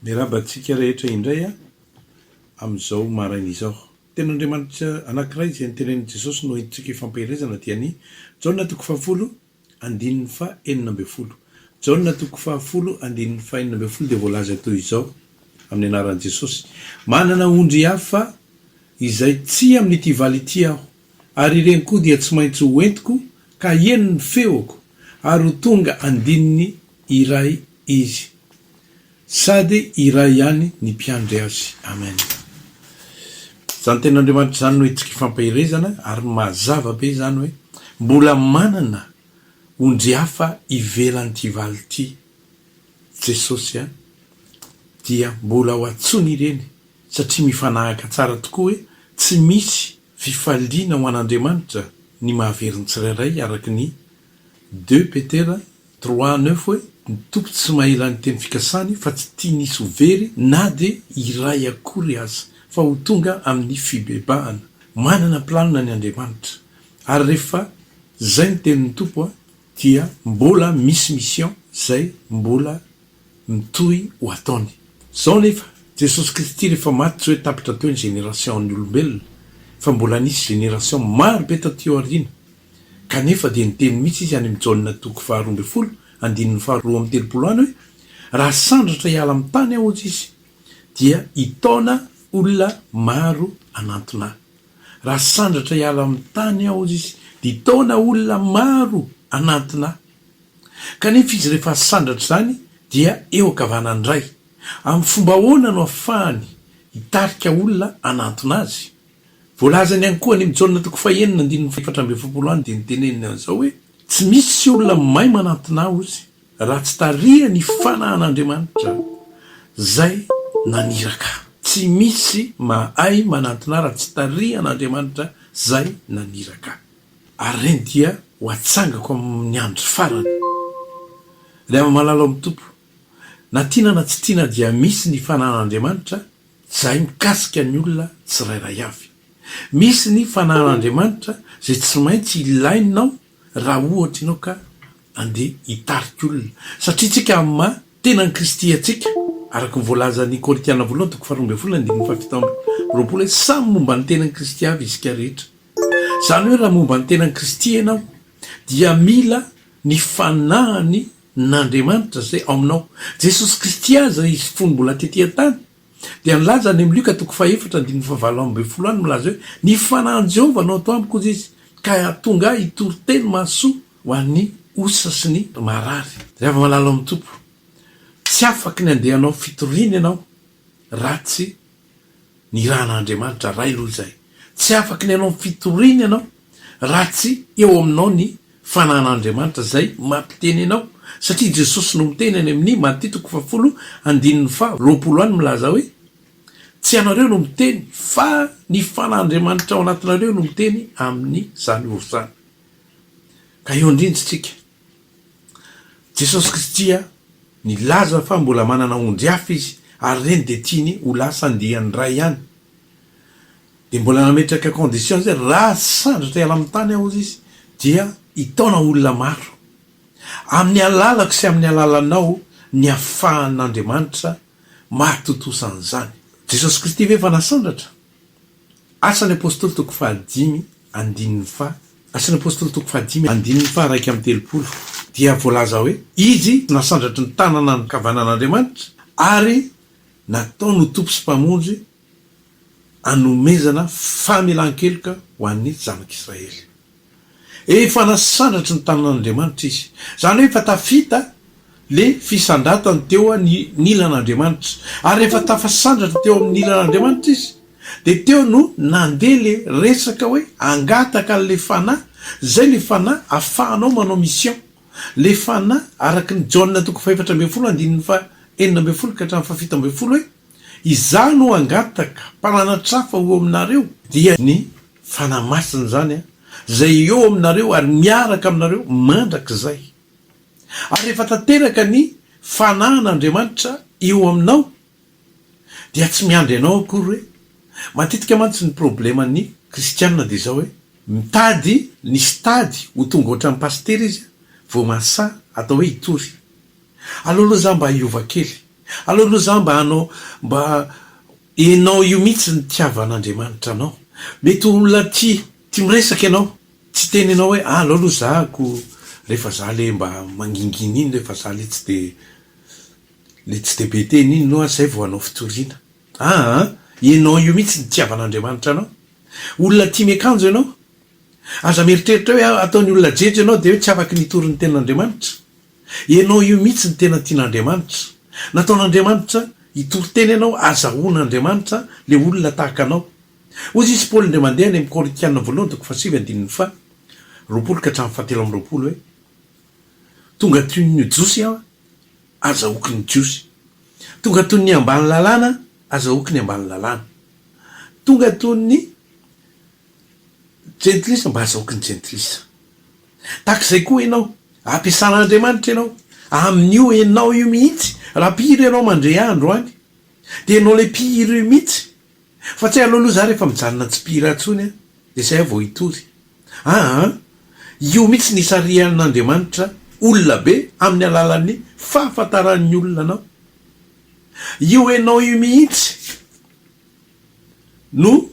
Miarahaba antsika rehetra indray amin'izao maraina izao. Teny Andriamanitra anankiray izay notenenin'i Jesosy no entintsika hifampielezana dia ny Jaona toko fahafolo andininy faha enina ambin'ny folo. Jaona toko fahafolo andininy faha enina ambin'ny folo dia voalaza toy izao amin'ny anaran'i Jesosy, Manana ondry hafa izay tsy amin'ity valo ity aho, ary ireny koa dia tsy maintsy ho entiko ka haheno ny feoko, ary ho tonga andininy iray izy. Sady iray ihany ny mpiandry azy. Amen. Izany ten'Andriamanitra izany no hetsika ifampaherezana ary mazava be izany hoe mbola manana ondry hafa ivelan'ity valo ity Jesosy a! dia mbola ho antsony ireny satria mifanahaka tsara tokoa hoe tsy misy fifaliana ho an'Andriamanitra ny mahavery ny tsirairay araka ny Deux Petera trois neuf hoe ny Tompo tsy mahela ny teny fikasany fa tsy tiany hisy ho very na dia iray akory aza fa ho tonga amin'ny fibebahana. Manana planina ny Andriamanitra ary rehefa zay ny tenin'ny Tompo dia mbola misy mission zay mbola mitohy ho ataony. Izao anefa, Jesosy Kristy rehefa maty tsy hoe tapitra teo ny génération ny olombelona fa mbola nisy génération maro be taty aoriana, kanefa dia niteny mihitsy izy any amin'ny Jaona toko faha roa ambin'ny folo andininy faha roa amby telopolo any hoe raha sandratra hiala amin'ny tany aho hozy izy dia hitaona olona maro hanantona ahy, raha sandratra hiala amin'ny tany aho hozy izy dia hitaona olona maro hanantona ahy. Kanefa izy rehefa sandratra izany dia eo ankavanany indray. Amin'ny fomba ahoana no ahafahany hitarika olona hanantona azy? Voalazany ihany koa any amin'ny Jaona toko fahenina andininy fahefatra amby efapolo any dia noteneniny an'izao hoe, Tsy misy olona mahay manantona Ahy raha tsy tarihany i Fanahin'Andriamanitra izay naniraka Ahy. Tsy misy mahay manantona Ahy raha tsy tarihan'Andriamanitra izay naniraka Ahy. Ary ireny dia ho atsangako amin'ny andro farany. Ry ama-malala ao amin'ny Tompo, na tiana na tsy tiana dia misy ny fanahin'Andriamanitra izay mikasika ny olona tsirairay avy. Misy ny fanahin'Andriamanitra izay tsy maintsy ilainao raha ohatra ianao ka andeha hitarika olona, satria isika amin'ny maha tenan'i Kristy antsika, araka ny voalazan'ny Korintiana voalohany toko faharoa ambin'ny folo andininy fahafito amby roapolo hoe samy momba ny tenan'i Kristy avy isika rehetra. Izany hoe raha momba ny tenan'i Kristy ianao dia mila ny fanahiny n'Andriamanitra izay ao aminao. Jesosy Kristy aza izy fony mbola tety an-tany dia nilaza any amin'ny Lioka toko fahefatra andininy fahavalo ambin'ny folo any milaza hoe ny fanahin'i Jehovah no ato amiko hoy izy ka tonga ahy hitory teny mahasoa ho an'ny osa sy ny marary. Ry havamalalan'ny Tompo, tsy afaky ny handeha hanao fitoriana ianao ratsy ny rà an'Andriamanitra Ray aloha izay. Tsy afaka ny hanao ny fitoriany ianao raha tsy eo aminao ny fanan'Andriamanitra izay mampiteny anao satria Jesosy no miteny any amin'ny Maty toko fahafolo andininy faha roapolo any milaza hoe tsy ianareo no miteny fa ny fanan'Andriamanitra ao anatinareo no miteny amin'izany ory izany. Ka eo indrindra isika. Jesosy Kristy nilaza fa mbola manana ondry hafa izy ary ireny dia tiany ho lasa andiany Ray ihany. Dia mbola nametraka condition izy hoe raha sandratra hiala amin'ny tany aho izy dia hitaona olona maro. Amin'ny alalako sy amin'ny alalanao ny afahan'Andriamanitra mahatontosa an'izany. Jesosy Kristy ve efa nasandratra? Asan'ny Apôstôly toko fahadimy andininy faha Asan'ny Apôstôly toko fahadimy andininy faha iraika amby telopolo dia voalaza hoe, Izy nasandratry ny tanana ankavanan'Andriamanitra ary nataony ho Tompo sy Mpamonjy anomezana famelan-keloka ho an'ny zanak'Israely. Efa nasandratry ny tanan'Andriamanitra izy. Izany hoe efa tafita ilay fisandratany teo an'Ilan'Andriamanitra. Ary rehefa tafasandratra teo amin'Ilan'Andriamanitra izy, dia teo no nandeha ilay resaka hoe hangataka an'ilay Fanahy, izay ilay Fanahy afahanao manao mission. Ilay Fanahy, araka ny Jaona toko fahefatra ambin'ny folo, andininy fahenina ambin'ny folo ka hatramin'ny fahafito ambin'ny folo hoe. Izaho no hangataka mpananatrafa ho eo aminareo, dia ny Fanahy Masina izany, izay eo aminareo ary miaraka aminareo mandrakizay. Ary rehefa tanteraka ny Fanahin' Andriamanitra eo aminao, dia tsy miandry anao akory hoe, matetika mantsy ny problème ny kristiana dia izao hoe, mitady ny stade ho tonga ohatran'ny pasitera izy vao mahasahy atao hoe hitory. Aleo aloha za mba hiova kely, aleo aloha za mba hanao mba enao io mihitsy ny tiavan'Andriamanitra anao, mety ho olona tia tia miresaka ianao, tsy teny anao hoe aleo aloha za ko rehefa za le mba mangingina iny rehefa za le tsy de le tsy de be teny iny loha zay vao hanao fitoriana, aa enao io mihitsy ny tiavan'Andriamanitra anao, olona tia miakanjo ianao, aza mieritreritra hoe ataon'ny olona jejo ianao de hoe tsy afaky ny hitory ny tenin'Andriamanitra, Ianao io mihitsy no tena tian'Andriamanitra. Nataon'Andriamanitra hitory teny ianao hazahoan'Andriamanitra le olona tahaka anao. Hozy izy Paoly indray mandeha any amin'ny Korintiana voalohany toko fahasivy andininy faha roapolo ka hatramin'ny fahatelo amby roapolo hoe, Tonga toy ny Jiosy aho hazahoako ny Jiosy. Tonga toy ny ambany lalàna hazahoako ny ambany lalàna. Tonga toy ny Jentilisa mba azahoky ny jentilisa. Tahaka izay koa ianao, ampiasan'Andriamanitra ianao. Amin'io ianao io mihitsy, raha mpihira ianao mandre ahy androany, dia ianao ilay mpihira io mihitsy. Fa tsy aleo aloha izaho rehefa mijanona tsy mpihira intsony an, dia izay aho vao hitory. Aa, io mihitsy no isarihan'Andriamanitra olona be amin'ny alalan'ny fahafantaran'ny olona anao. Io ianao io mihitsy. no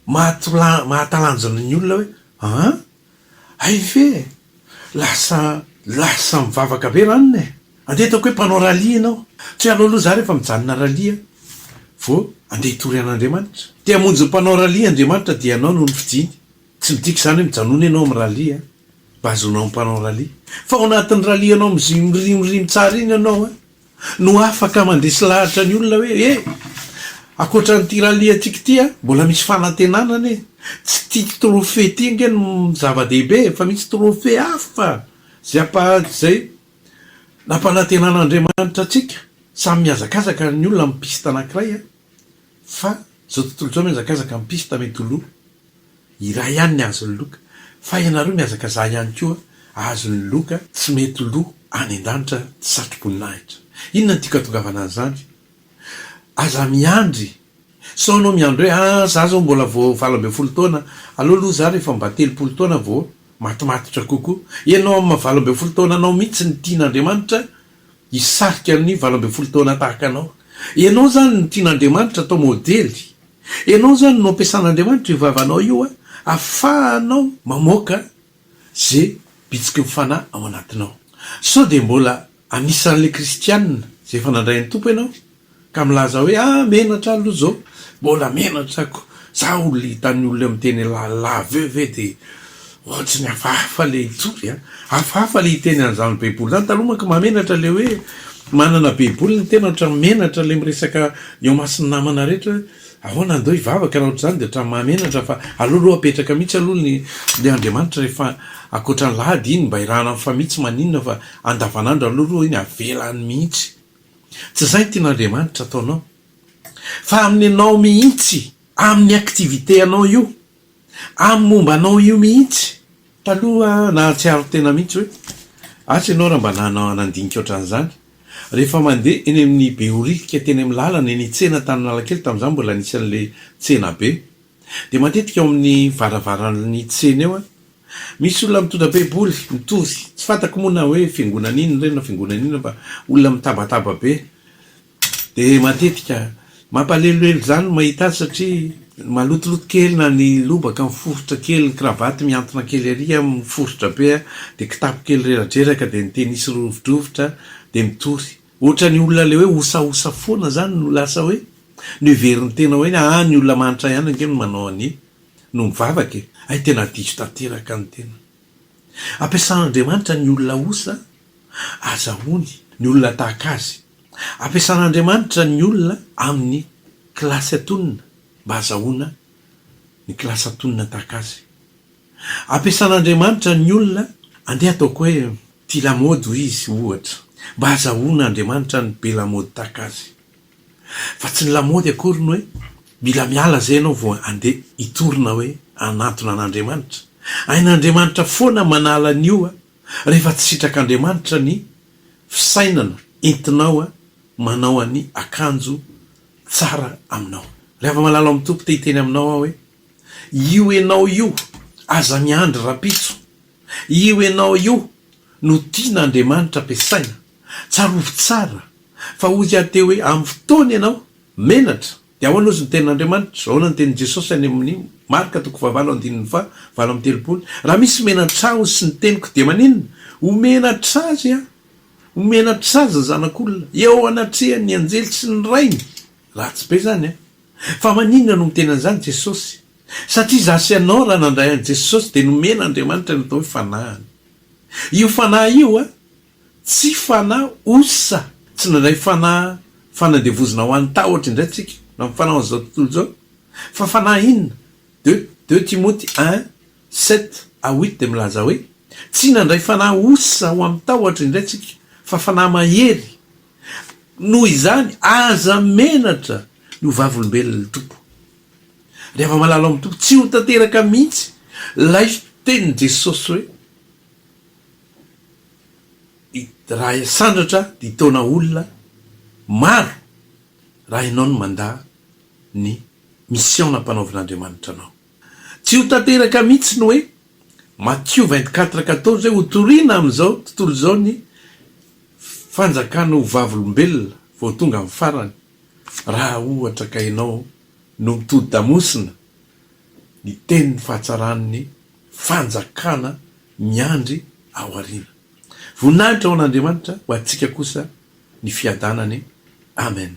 mahatalanjona ny olona hoe aa hay ve e! lasa lasa mivavaka be ranona e! andeha ataoko hoe mpanao rallye ianao, tsy hoe aleo aloha za rehefa mijanona rallye vao andeha hitory an'Andriamanitra, te hamonjy ny mpanao rallye Andriamanitra dia ianao no nofidiny, tsy midika izany hoe mijanona ianao amin'ny rallye an! mba hahazoanao ny mpanao rallye, fa ao anatin'ny rallye anao mirimiriry tsara iny ianao an! no afaka mandresy lahatra ny olona hoe e! Ankoatra an'ity rallye-ntsika ity an, mbola misy fanantenana anie. Tsy ity trophée ity ange no zava-dehibe fa misy trophée hafa izay ampa-, izay nampanantenan'Andriamanitra antsika. Samy mihazakazaka ny olona amin'ny piste anankiray an, fa izao tontolo izao mihazakazaka amin'ny piste mety ho lo. Iray ihany ny azon'ny loka fa ianareo mihazakazaha ihany koa azon'ny loka tsy mety lo any andanitra satroboninahitra inona ny tiako atongavana an'izany aza miandry sao anao miandry hoe ah za zao mbola vo valo ambin'ny folo taona aleo lo za rehefa mba telopolo taona vo matomatotra kokoa ianao amin'ny maha valo ambin'ny folo taonanao mitsy ny tian'Andriamanitra Hisarika ny valo ambin'ny folo taona tahaka anao. Ianao izany no tian'Andriamanitra atao modely. Ianao izany no ampiasan'Andriamanitra io vavanao io ahafahanao mamoaka ze bitsiky ny Fanahy ao anatinao. Sao dia mbola anisan'ilay kristiana izay efa nandray an'i Tompo ianao? Ka milaza hoe ah menatra aloha zao mbola menatra ko za olona hitan'ny olona miteny la la aveo ve de ohatry ny hafahafa le hitory a! hafahafa le hiteny an'izany baiboly zany taloha manko mahamenatra le hoe manana baiboly ny tena ohatran'ny menatra le miresaka eo imason'ny namana rehetra hoe ahoana andao hivavaka na ohatr'izany de ohatran'ny mahamenatra fa aleo aloha apetraka mihitsy aloha ny le andriamanitra rehefa ankoatran'ny lahady iny mba irahana ny famihy tsy maninona fa andavanandro aleo aloha iny avela any mihitsy Tsy izay ny tian'Andriamanitra ataonao. Fa amin'ny anao mihitsy, amin'ny activité anao io, amin'ny momba anao io mihitsy. Taloha aho nahatsiaro tena mihitsy hoe, asa ianao raha mba nanana nandinika ohatran'izany. Rehefa mandeha eny amin'ny Behoririka teny amin'ny lalana, eny an-tsena tany Analakely, tamin'izany mbola nisy an'ilay tsenabe. Dia matetika ao amin'ny varavaran'ny tsena eo misy olona mitondra baiboly mitory, tsy fantako moa na hoe fiangonana inona ireny na fiangonana inona fa olona mitabataba be. Dia matetika mampaleloelo izany ny mahita azy satria malotoloto kely na ny lobaka miforitra kely, ny kravaty mihantona kely ery miforitra be dia kitapo kely reradreraka dia ny tenisy rovidrovitra dia mitory. Ohatran'ny olona le hoe osaosa foana zany no lasa hoe niverin'ny tena hoe ny aah ny olona manitra ihany ange no manao an'i no mivavaka e! hay tena diso tanteraka ny tena ampiasan'Andriamanitra ny olona osa azahoany ny olona tahaka azy ampiasan'Andriamanitra ny olona amin'ny kilasy atonina mba azahoana ny kilasy atonina tahaka azy. Ampiasan'Andriamanitra ny olona, andeha ataoko hoe tia lamaody hoy izy, ohatra, mba hahazahoan'Andriamanitra ny be lamaody tahaka azy. Fa tsy ny lamaody akory no hoe mila miala izay ianao vao andeha hitory na hoe hanantona an'Andriamanitra. Hain'Andriamanitra foana manala an'io rehefa tsy sitrak'Andriamanitra ny fisainana entinao manao an'i akanjo tsara aminao. Ry hava-malala ao amin'ny Tompo, te-hiteny aminao aho hoe Io enao io aza miandry rapitso io enao io no tiana Andriamanitra ampiasaina tsarovy tsara fa hoy aho teo hoe amin'ny fotoana enao menatra dia ahoana ozy ny tenin' Andriamanitra ahoana ny tenin' Jesosy any amin'ny Marka toko fahavalo andininy faha valo amby telopolo raha misy menatra ahy ozy ny teniko dia maninona ho menatra azy aho ho menatra azy ny zanak' olona eo anatrehan' ny anjely sy ny rainy ratsy be zany an. Fa maninona no miteny an'izany Jesosy? Satria izaho sy ianao raha nandray an'i Jesosy dia nomen'Andriamanitra ny atao hoe fanahiny. Io fanahy io a, tsy fanahy osa, tsy nandray fanahy fanandevozina ho an'ny tahotra indray tsika na ny fanahy ho an'izao tontolo izao. Fa fanahy inona? De, deux Timoty un, sept à huit dia milaza hoe, Tsy nandray fanahy osa ho amin'ny tahotra indray tsika, fa fanahy mahery, Noho izany, aza menatra ny ho vavolombelon'ny Tompo. Ry hava-malala ao amin'ny Tompo, tsy ho tanteraka mihitsy ilay tenin'i Jesosy hoe, Raha sandratra dia hitaona olona maro raha ianao no mandà ny misiôna ampanaovin'Andriamanitra anao. Tsy ho tanteraka mihitsy ny hoe Matthieu vingt quatre quatorze hoe hotorina amin'izao tontolo izao ny fanjakana ho vavolombelona vao tonga amin'ny farany, raha ohatra ka ianao no mitodi-damosina ny tenin'ny fahatsaran'ny fanjakana miandry ao aoriana. Voninahitra ho an'Andriamanitra, ho antsika kosa ny fiadanany. Amen.